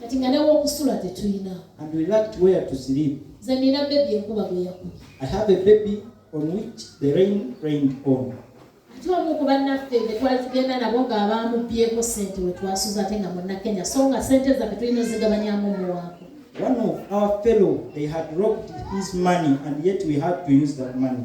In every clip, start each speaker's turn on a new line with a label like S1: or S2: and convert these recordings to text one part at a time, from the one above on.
S1: kati nga nawe okusula tetulina and we lacked where to sleep nze nina bebi enkuba gwe yakubye i have a baby on which the rain rained on ate omu ku bannaffe be twali tugenda nabo ng'abaamubyeko ssente we twasuza ate nga munnakenya so nga ssente zaffe tulina ozigabanyamu omuwaako One of our fellow, they had robbed his money and yet we had to use that money.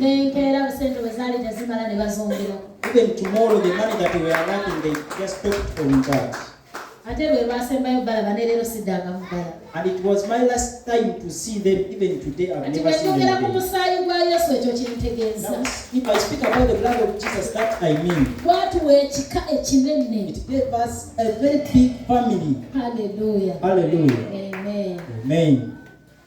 S1: n'enkeera busente bwe zaali tezimala ne bazongerako ate lwe lwasembayo balaba ne leero siddanga mu balabati bwetwogera ku musaayi gwa yesu ekyo kintegeeza gwatuwa ekika ekinene haleluya amen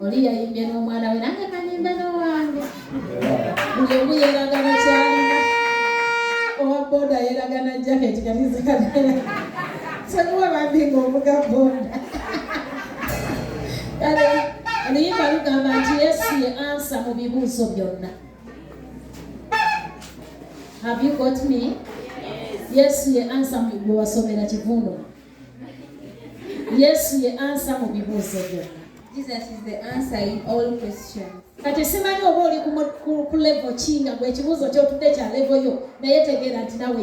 S2: oli yayimbye n'omwana we nange kanyimbe n'owange buli omu yeragana kyalina owa boda yeragana jaketi kati zikagala sekuwa bambi ng'ovuga boda kale oluyimba lugamba nti yesu ye ansa mu bibuuzo byonna have you got me yesu ye ansa mu bwewasomera kivundo yesu ye ansa mu bibuuzo byonna
S3: kati simanyi
S2: oba oli ku levo ki nga gwe ekibuuzo kyotudde kya levo yo naye tegeera nti nawe